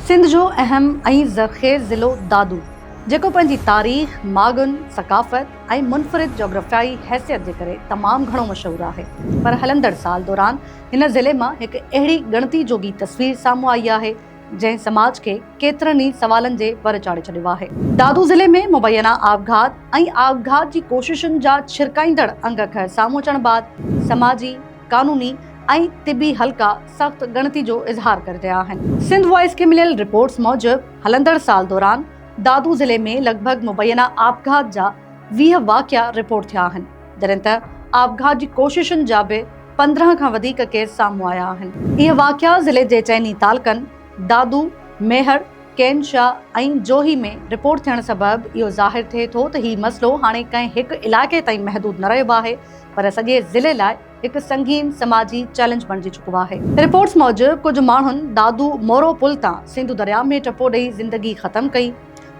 سنڌ جو اهم ۽ زرخيز ضلعو دادو، جيڪو پنهنجي تاريخ، ماڳن، ثقافت ۽ منفرد جاگرافيائي حيثيت جي ڪري تمام گهڻو مشهور آهي، پر هلندڙ سال دوران هن ضلعي مان هڪ اهڙي ڳڻتي جوڳي تصوير سامهون آئي آهي، جنهن سماج کي ڪيترن ئي سوالن جي ور چاڙهي ڇڏيو آهي. دادو ضلعي ۾ مبينا آپگهات ۽ آپگهات جي ڪوششن جا ڇرڪائيندڙ انگ اکر سامهون اچڻ بعد سماجي، قانوني ۽ طبي حلقا سخت ڳڻتي جو اظهار ڪري رهيا آهن. سنڌ وائس کي مليل رپورٽس موجب هلندڙ سال دوران دادو ضلعي ۾ لڳ ڀڳ مبينا آپگهات جا ويهه واقعا رپورٽ ٿيا آهن، جڏهن ته آپگهات جي ڪوششن جا به پندرهن کان وڌيڪ ڪيس سامهون آيا آهن. اهي واقعا ضلعي جي چئني تعلقن دادو، ميهڙ، ڪين شاهه ۽ جوهي ۾ رپورٽ ٿيڻ سبب اهو ظاهر ٿئي ٿو ته هي مسئلو هاڻي ڪنهن هڪ علائقي تائين محدود نه رهيو آهي، پر سڄي ضلعي لاء هڪ سنگين سماجي چئلينج بڻجي چڪو آهي. رپورٽس موجب ڪجهه ماڻهن دادو مورو پل تان سنڌو درياء ۾ ٽپو ڏئي زندگي ختم ڪئي،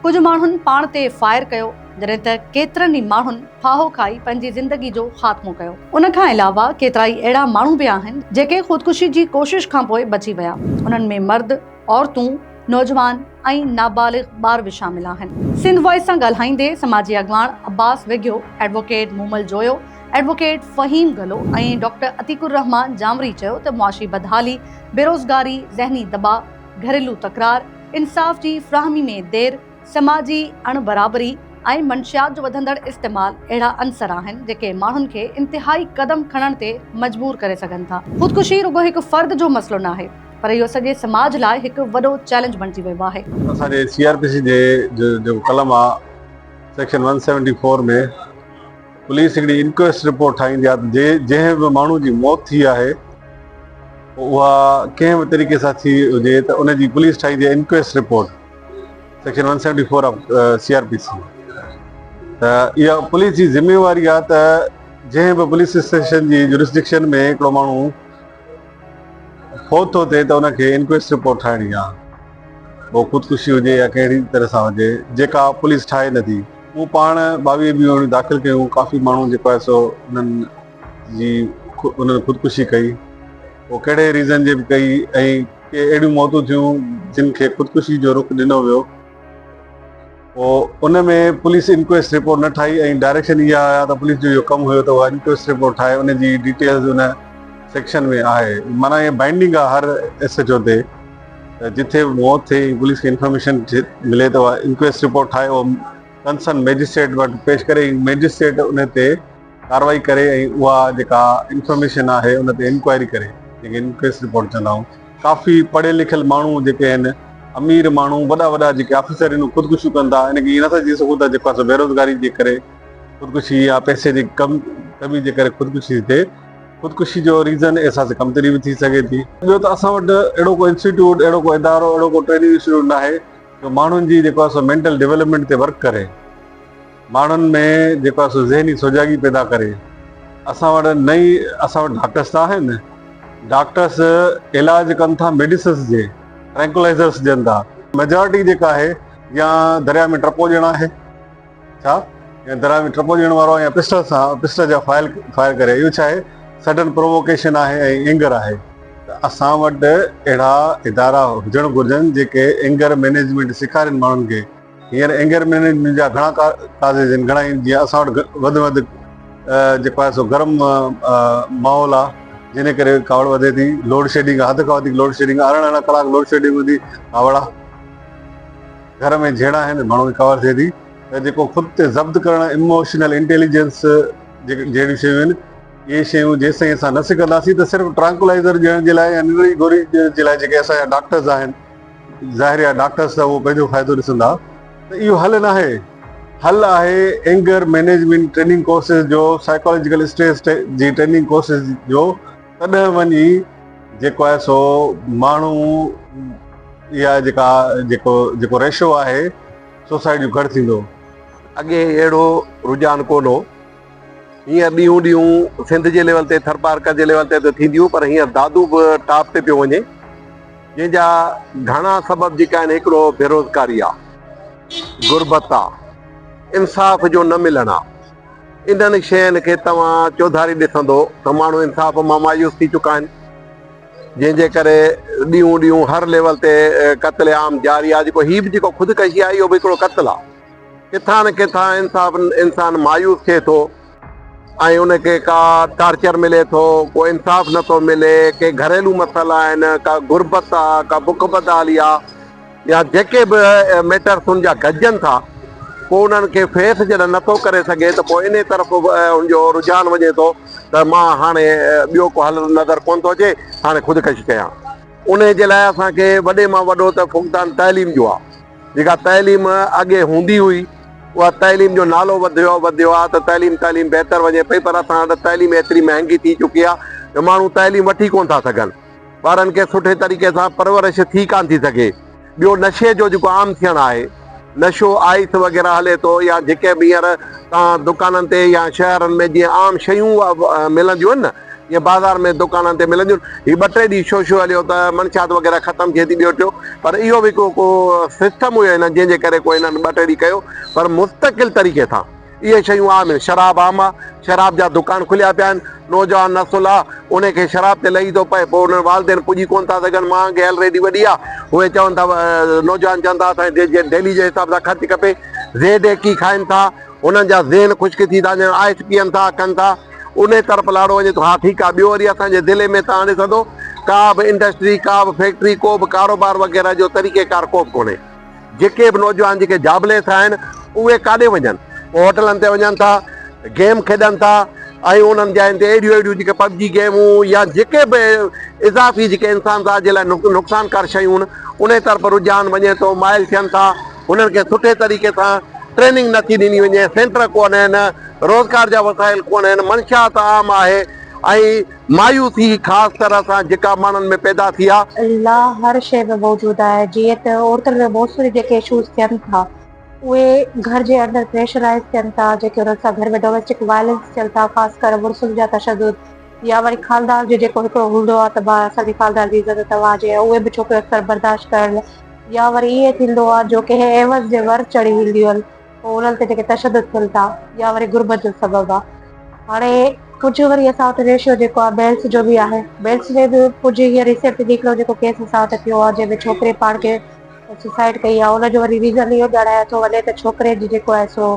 ڪجهه ماڻهن پاڻ تي فائر ڪيو، جڏهن ته ڪيترن ئي ماڻهن ڦاهو کائي پنهنجي زندگي جو خاتمو ڪيو. ان کان علاوه ڪيترائي اهڙا ماڻهو به آهن، جيڪي خودڪشي جي ڪوشش کانپوء بچي ويا، انهن ۾ مرد، عورتون، نوجوان، ۽ نابالغ ٻار به شامل آهن. سنڌ وائس سان ڳالهائيندي سماجي اڳواڻ Abbas Wighio, advocate Momal Joyo, advocate Faheem Gullo ۽ doctor Atiq الرحمان جانوري چيو ته معاشي بدحالي، بيروزگاري، ذهني دٻاء، گهريلو تڪرار، انصاف جي فراهمي ۾ دير، سماجي اڻ برابري ۽ منشيات جو وڌندڙ استعمال اهڙا عنصر آهن جيڪي ماڻهن کي انتهائي قدم کڻڻ تي مجبور ڪري سگهن ٿا. خودڪشي رڳو هڪ فرد جو مسئلو ناهي پر اهو سڄي سماج لاء هڪ وڏو چئلينج بڻجي ويو آهي. اسان جي سي آر پي سي جي جيڪو قلم آ section one seventy four ۾ police هڪڙي انڪويسٽ رپورٽ ٺاهيندي آ ته جنهن به ماڻهو جي موت ٿي آهي اها ڪنهن به طريقي سان ٿي هجي ته ان جي پوليس ٺاهيندي آ inquest report section one seventy four of C R P C ته اها پوليس جي ذميواري آ ته جنهن به پوليس اسٽيشن جي جورسڊڪشن ۾ هڪڙو ماڻهو فوت ٿو ٿئي ته ان کي انڪويسٽ رپورٽ ٺاهڻي آهي. پوء خودڪشي هجي يا ڪهڙي طرح سان هجي، جيڪا پوليس ٺاهي نه ٿي. مون پاڻ ٻاويهه بيهوڻيون داخل ڪيون، ڪافي ماڻهو جيڪو آهي سو انهن جي انهن خودڪشي ڪئي. پوء ڪهڙي ريزن جي به ڪئي ۽ ڪي اهڙيون موتون ٿيون جن کي خودڪشي جو رخ ڏنو ويو. پوء ان ۾ پوليس انڪويسٽ رپورٽ نه ٺاهي ۽ ڊائريڪشن اها آيا ته پوليس جو اهو ڪم هيو ته اها انڪويسٽ رپورٽ ٺاهي ان جي ڊيٽيلز ان سيڪشن ۾ آهي معنيٰ اها بائنڊنگ آهي هر ايس ايڇ او تي ته جتي به موت ٿئي ۽ پوليس کي انفارميشن ملي ته اها انڪويسٽ رپورٽ ٺاهي اهو ڪنسرن مئجسٽريٽ وٽ پيش ڪري ۽ مئجسٽريٽ ان تي ڪارروائي ڪري ۽ اها جيڪا انفارميشن آهي ان تي انڪوائري ڪري جنهن کي انڪويسٽ رپورٽ چوندا آهيون ڪافي پڙهيل لکيل ماڻهو جيڪي آهن امير ماڻهو وڏا وڏا جيڪي آفيسر آهن اهي خودڪشيون ڪن ٿا ان کي ائين نٿا چئي سگهون ته جيڪو آهي بيروزگاري جي ڪري خودڪشي يا پئسي جي ڪمي جي ڪري خودڪشي ٿي ٿئي خودڪشي جو ريزن احساس ڪمتري به ٿي سگهي ٿي ٻيو ته اسان وٽ اهڙو ڪو انسٽيٽيوٽ اهڙو ڪو ادارو اهڙو ڪو ٽريننگ انسٽيٽيوٽ ناهي جو ماڻهن جي جيڪو آهي سو مينٽل ڊولپمينٽ تي ورڪ ڪري. ماڻهن ۾ جيڪو آهي سو ذهني سجاڳي پيدا ڪري اسان وٽ نئين اسان وٽ ڊاڪٽرس ته آهن ڊاڪٽرس علاج ڪن ٿا ميڊيسنس جي ٽرينڪولائزرس ڏين ٿا ميجارٽي جيڪا آهي يا درياء ۾ ٽپو ڏيڻ آهي ڇا يا درياء ۾ ٽپو ڏيڻ وارو يا پسٽل سان پسٽل جا فائل فائر ڪري اهو ڇا آهي سڊن پرووڪيشن آهي ۽ اينگر آهي ته اسان وٽ اهڙا ادارا هجڻ گهرجن جيڪي اينگر مينيجمينٽ سيکارين ماڻهن کي هينئر اينگر مينيجمينٽ جا گهڻا قاضي جن گهڻا ئي جيئن اسان وٽ وڌ ۾ وڌ جيڪو آهي سو گرم ماحول آهي جنهن ڪري ڪاوڙ وڌي ٿي لوڊ شيڊنگ حد کان وڌيڪ لوڊ شيڊنگ ارڙهن ارڙهن ڪلاڪ لوڊ شيڊنگ هوندي ڪاوڙا گهر ۾ جهيڙا آهن ماڻهو کي ڪاوڙ ٿئي ٿي ته جيڪو خود تي ضبط ڪرڻ اموشنل انٽيليجنس جهڙيون شيون آهن اهي شيون جيسين اسان نه سکنداسين ته صرف ٽرانڪولائزر ڏيڻ جي لاء يا ننڊ جي گوري جي لاء جيڪي اسان جا ڊاڪٽرز آهن ظاهر آهي ڊاڪٽرز ته اهو پنهنجو فائدو ڏسندا ته اهو حل ناهي، حل آهي اينگر مينيجمينٽ ٽريننگ ڪورسز جو، سائيڪالاجيڪل اسٽريس جي ٽريننگ ڪورسز جو، تڏهن وڃي جيڪو آهي سو ماڻهو اها جيڪا جيڪو جيڪو ريشو آهي سوسائڊ جو گهٽ ٿيندو. اڳي اهڙو رجحان ڪونه هو. ائين ڏينهون ڏينهون سنڌ جي ليول تي ٿرپارڪر جي ليول تي ته ٿينديون پر هينئر دادو به ٽاپ تي پيو وڃي جنهن جا گهڻا سبب جيڪي آهن هڪڙو بيروزگاري آ غربت آ انصاف جو نه ملڻ آ انهن شين کي توهان چوڌاري ڏسندو ته ماڻهو انصاف مان مايوس ٿي چڪا آهن جنهن جي ڪري ڏينهون ڏينهون هر ليول تي قتل عام جاري آ جيڪو هي به جيڪو خودڪشي آ اهو به هڪڙو قتل آ. ڪٿان نه ڪٿان انصاف انسان مايوس ٿئي ٿو ۽ ان کي ڪا ٽارچر ملي ٿو ڪو انصاف نٿو ملي ڪي گهريلو مسئلا آهن ڪا غربت آ ڪا بک بدحالي آ يا جيڪي به ميٽرس ان جا گڏجن ٿا پوء انهن کي فيس جڏهن نٿو ڪري سگهي ته پوء انهي طرف ان جو رجحان وڃي ٿو ته مان هاڻي ٻيو ڪو حل نظر ڪونه ٿو اچي هاڻي خودڪشي ڪيان انهي جي لاء اسان کي وڏي مان وڏو ته فقدان تعليم جو آ. جيڪا تعليم اڳي هوندي هئي اها تعليم جو نالو وڌيو وڌيو آهي ته تعليم تعليم بهتر وڃي پئي پر اسان وٽ تعليم ايتري مهانگي ٿي چڪي آهي جو ماڻهو تعليم وٺي ڪونه ٿا سگهن ٻارن کي سٺي طريقي سان پرورش ٿي ڪانه ٿي سگهي ٻيو نشي جو جيڪو عام ٿيڻ آهي نشو آئس وغيره هلي ٿو يا جيڪي به هينئر تان دڪانن تي يا شهرن ۾ جيئن عام شيون ملنديون آهن نه جيئن بازار ۾ دڪانن تي ملنديون هي ٻه ٽي ڏينهن شو شو هليو ته منشيات وغيره ختم ٿئي ٿي ٻيو ٽيو پر اهو به ڪو ڪو سسٽم هيو هنن جنهن جي ڪري ڪو هنن ٻه ٽي ڏينهن ڪيو پر مستقل طريقي سان اهي شيون عام آهن شراب عام آ شراب جا دڪان کليا پيا آهن نوجوان نسل آ انهي کي شراب تي لهي ٿو پئي پوء انهن والدين پڄي ڪونه ٿا سگهن مهانگي هيل ايڏي وڏي آ اهي چون ٿا نوجوان چون ٿا اسان کي ڊيلي جي حساب سان خرچ کپي زيد ايڪي کائن ٿا انهن جا ذهن خشڪ ٿي ٿا وڃن آئس پيئن ٿا ڪن ٿا انهي طرف لاڙو وڃي ٿو. ها ٺيڪ آ ٻيو وري اسان جي ضلعي ۾ تان ڏسندو ڪا به انڊسٽري ڪا به فيڪٽري ڪو به ڪاروبار وغيره جو طريقي ڪار ڪو به ڪونهي. جيڪي به نوجوان جيڪي جابليس آهن اهي ڪاڏي وڃن ڪو هوٽلن تي وڃن ٿا گيم کيڏن ٿا ۽ انهن جاين تي اهڙيون اهڙيون جيڪي پبجي گيمون يا جيڪي به اضافي جيڪي انسان ذات جي لاء نقصانڪار شيون انهي طرف رجحان وڃي ٿو مائل ٿين ٿا. انهن کي سٺي طريقي سان ٽريننگ نه ٿي ڏني وڃي، سينٽر ڪو نه آهن، روزگار جا وسائل ڪو نه آهن، منشيات عام آهي ۽ مايوسي خاص طرح سان جيڪا ماڻهن ۾ پيدا ٿي آ. الله هر شيء ۾ موجود آهي، جيئن ته عورتن ۾ بوسو جي جيڪي اشوز ٿين ٿا، اهي گهر جي اندر پريشرائيز ٿين ٿا، جيڪي انهن سان گهر ۾ ڊوميسٽڪ وائلنس چئن ٿا، خاص ڪري مڙسن جا تشدد يا وري خالدار جو جيڪو هڪڙو هوندو آ ته ڀاء اسان جي خالدار جي عزت توهان جي آ، اهي به ڇوڪريون اڪثر برداشت ڪرڻ لاء يا وري ائين ٿيندو آهي جو ڪنهن عيوض جي ور چڙهي وينديون آهن پوء انهن تي جيڪي تشدد ٿين ٿا يا وري غربت جو سبب آهي هاڻي ڪجهه وري اسان وٽ ريشو جيڪو آهي بيلس جو به آهي بيلس ۾ به ڪجهه هينئر ريسينٽلي هڪڙو جيڪو ڪيس اسان وٽ ٿيو آهي جنهن ۾ ڇوڪري پاڻ کي سوسائڊ ڪئي آهي ان جو وري ريزن اهو ڄاڻايو ٿو وڃي ته ڇوڪري جي جيڪو آهي سو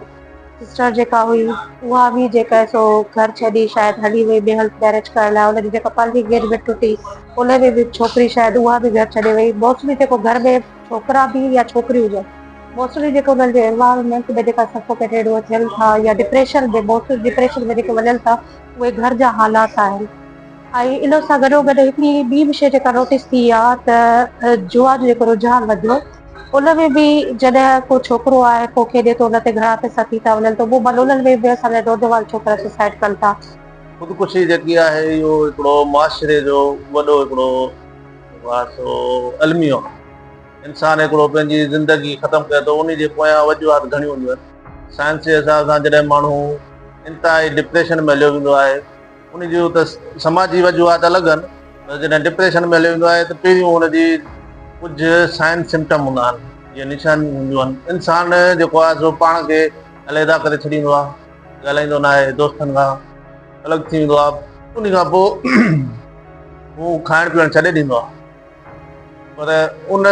سسٽر جيڪا هئي اها به جيڪا سو گهر ڇڏي شايد هلي وئي ٻئي هنڌ ميرج ڪرڻ لاء ان جي جيڪا پنهنجي انگيجمينٽ ٽٽي ان ۾ به ڇوڪري شايد اها به گهر ڇڏي وئي موسٽلي جيڪو گهر ۾ ڇوڪرا به يا ڇوڪريون هجن موسٽلي جيڪو انهن جي انوائرمينٽ ۾ جيڪا سفوڪيٽيڊ هو ٿين ٿا يا ڊپريشن ۾ موسٽلي ڊپريشن ۾ جيڪي وڃن ٿا اهي گهر جا حالات آهن ۽ ان سان گڏو گڏ هڪڙي ٻي به شي جيڪا نوٽيس ٿي آ ته جوا جو جيڪو رجحان وڌيو ان ۾ به جڏهن ڪو ڇوڪرو آهي پوء کيڏي ٿو ان تي گهڻا پئسا ٿي ٿا وڃن ته اهو ملولن ۾ به اسان جا نوجوان ڇوڪرا سوسائڊ ڪن ٿا خودڪشي جيڪي آهي اهو هڪڙو معاشري جو وڏو هڪڙو جيڪو آهي سو الميو آهي. انسان هڪڙو پنهنجي زندگي ختم ڪري ٿو انهي جي پويان وجوهات گهڻيون هونديون آهن. سائنس جي حساب سان جڏهن ماڻهو انتهائي ڊپريشن ۾ هليو ويندو آهي انهي جون ته سماجي وجوهات الڳ آهن پر جڏهن ڊپريشن ۾ هليو ويندو آهي ته پهريون ان جي ڪجهه سائن سمٽم هوندا آهن جي نشانيون هونديون آهن انسان جيڪو آهي سو پاڻ کي عليحده ڪري ڇڏيندو آهي ڳالهائيندو ناهي، دوستن کان الڳ ٿي ويندو آهي، انهي کان پوء هو کائڻ پيئڻ ڇڏي ڏيندو آهي. پر ان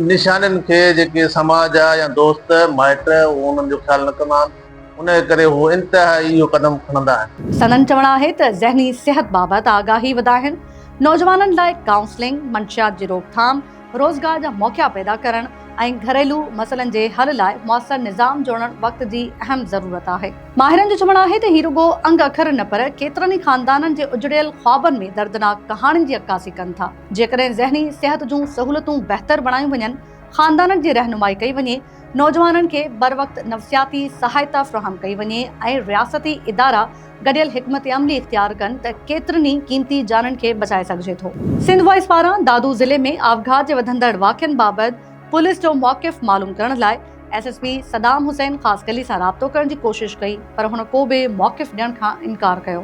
نشانين کي جيڪي سماج جا يا دوست مائٽ اهو انهن جو خيال نه ڪندا آهن، انهي ڪري هو انتهائي اهو قدم کڻندا آهن. سندن چوڻ آهي ته ذهني صحت بابت آگاهي وڌائڻ، نوجوانن لاء ڪائونسلنگ، منشيات جي روڪٿام، روزگار جا موقعا پيدا ڪرڻ ۽ گهريلو مسئلن جي حل لاء موثر نظام جوڙڻ وقت جي اهم ضرورت آهي. ماهرن جو چوڻ آهي ته هي رڳو انگ اکر نه پر ڪيترن ئي خاندانن جي اجڙيل خوابن ۾ دردناڪ ڪهاڻين جي عڪاسي ڪن ٿا. جيڪڏهن ذهني صحت جون سهولتون بهتر بڻايون وڃن، خاندانن جي رهنمائي ڪئي وڃي، نوجوانن کي بروقت نفسياتي سهائتا فراهم ڪئي وڃي ۽ رياستي ادارا گڏيل حڪمت عملي اختيار ڪن ته ڪيترن ئي قيمتي جانن کي بچائي سگهجي ٿو. سنڌ وائس پاران دادو ضلعي ۾ آپگهات جي وڌندڙ واقعن بابت پوليس جو موقف معلوم ڪرڻ لاء S S P Saddam Hussain Khaskheli سان رابطو ڪرڻ جي ڪوشش ڪئي پر هن ڪو به موقف ڏيڻ کان انڪار ڪيو.